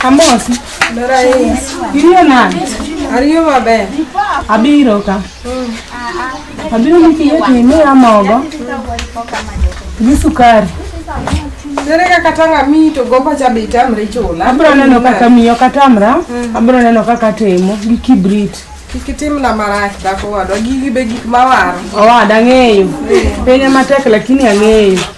Amosi. Ber ahinya. Iriyo nade? Ariyo maber. Abiro ka. Abiro ni kiyie to imiya mogo gi sukari. Ere kaka tang' amiyi to gombo cha be itamri chula? Abiro neno kaka miyo katamra, abiro neno kaka atimo gi kibrit. Kik itimna marach dhako wadwa, gigi be gik mawaro. Owada ang'eyo. Piny ema tek lakini ang'eyo.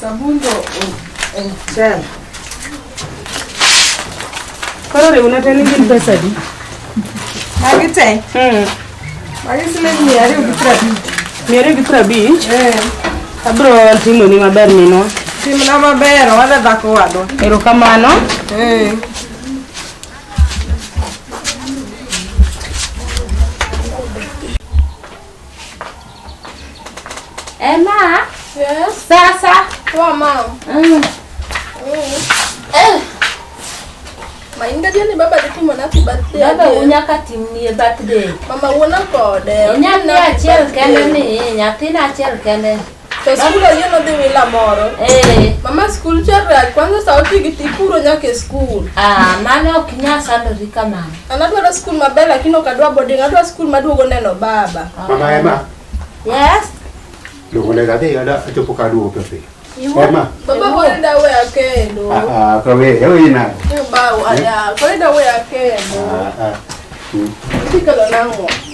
Sabundo en chal. Koro riwna te ni gin pesa di? Magi te? Hmm. Magi siling mia ariyo gi piero abich. Mia ariyo gi piero abich? Eh. Abro timoni maber minwa. Timna maber, owadwa dhako wadwa. Erokamano. Eh. Emma. Yes. Sasa. Poa mama. Mm. Mm. Eh. Mainga jani baba ditu mana ti birthday. Baba unya kati ni birthday. Mama uona kode. Unya ni achel kende ni, nyathi na achel kende. To skul oyie nodhi wila moro. Eh. Mama skul chakre kwanza saa oti gi tipuro nyaka e skul. Ah, mano ok nya sandori kamano. An adwaro skul maber lakini ok adwa boarding, adwa skul maduogo neno baba. Ah. Mama Emma. Yes. Luongo ne gadhi ada achopo ka duogo piyo piyo. Emma. Baba bora dawe akendo. Ah, ah, kawe, ewe ina. Baba, ada, kore dawe akendo. Ah, ah. Tikalo nango.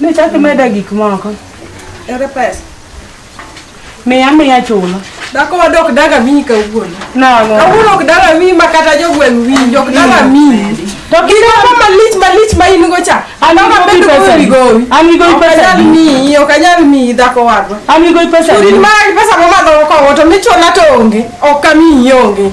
Ne chak imeda gik moko. Ere pesa? Miya miya chulo. Dhako wadok daga miyi kawuono. Nang'o? Kawuono ok daga miyi ma kata jogweng' winji ok daga miyi. To kiro ka malich malich ma in go cha. An gi Mama bedo pesa. gowi gowi. An gi gowi Ok pesa. anyal miyi, ok anyal miyi dhako wadwa. An gi gowi pesa. Chudin ma pesa ma madho ko to michula to onge. Ok kamiyi onge.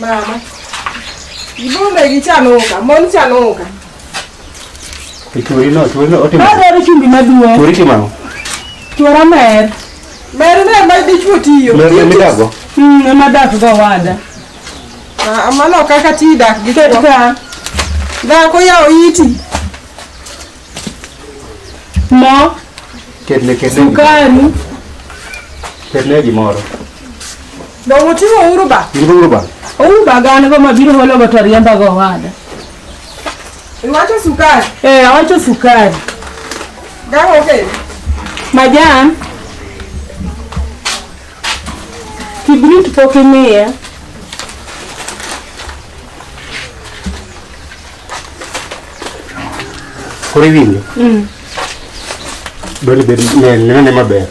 Mama. Ibombe gichanoka, mon chanoka. Churi no, churi no, otimo. Adwaro chumbi maduong'. Churi timang'o? Chwara mer. Mer mer ma dichwo tiyo. Mer mer midago? Mm, ema dak go wada. Ah, mano kaka ti dak gi chwo. Ket ka. Dhako yawo iti. Mo. Ketne ketne. Sukari. Ketne gimoro. Ba motiwo uru ba. Uru ba. Uru ba gane go mabiro holo go to riemba go wada. Iwacho sukari. Eh, awacho sukari. Gawo okay. Majan. Kibrit pok imiya. Oriwinjo? Mm. Dwani bed ne neno ne maber.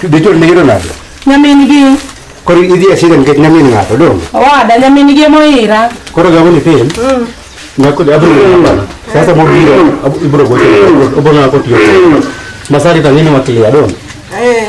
Dichol ne yero nade? Nyamin gi. Koro idhi e shida nikech nyamin ng'ato dong. Owada nyamin gi moira. Koro gago ni pin. Mm. Nyako abro ng'ato. Sasa mo biro ibro gocho. Obona ko tiyo. Masari tangini matia dong. Eh.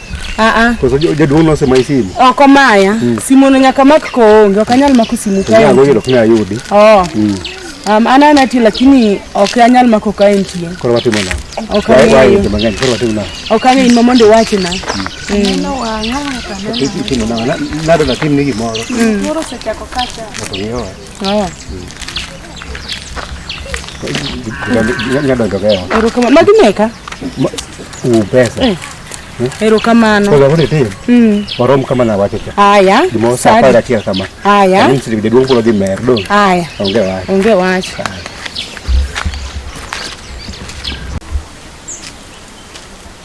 Ah, ah. Jaduong' nosemayi simu? Ok omaya. Hmm. Simuno nyaka mak koonge, ok anyal mako simu kae. Nyalo yudo knya yudi. Oh. Hmm. Um, an an ati lakini ok anyal mako kae nitie. Koro watimo na. Ok ang'eyo. Koro watimo na. Ok ang'eyo in mondo iwachi na. Neno wang'a. Nado na tim ni gimoro. Moro sechako kacha. Oto ngiyo. Haya. Nyadonjo keo. Erokamano. Magi meka. U pesa. Eh. Erokamano. Kwa sababu niti, Mm. warom kama na wacho cha. Haya. Dimo sa Sadi. para tia kama. Haya. Mimi sisi bidii wangu ndio merdo. Haya. Onge wacho. Onge wacho.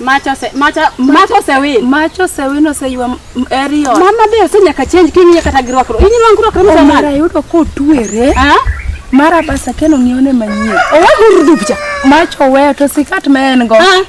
Mach ose mach mach osewin. Mach osewin oseywa eri ot. Mama be ose nyaka change kiny nyaka ta girwakro. Inyi nwangu girwakro mos mama. Mara yudo ko tuere. Ah? Mara basa keno ngione manyie. Owa guru dupcha. Mach owe to sikat ma en go. Ah.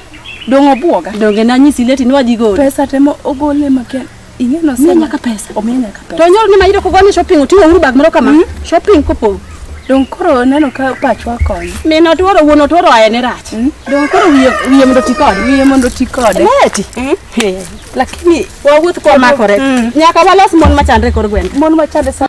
Dongo buoga. Donge na nyisi leti nwadhi gol. Pesa temo ogole maken. Ing'e no Miya nyaka pesa. Omiya nyaka pesa. To nyoro ni mayudo kogo ni shopping oting'o uru bag moro kama. Mm. Shopping kopo. Dong koro neno ka pachwa konyo. Min otworo wuon otworo aye ni rach. Mm. Dong koro wiye wiye mondo ti kode. Wiye mondo ti kode. Leti. Mm. Hey. Lakini wawuoth kwa makore. Mm. Nyaka walos mon machandre kor gweng. Mon machandre sa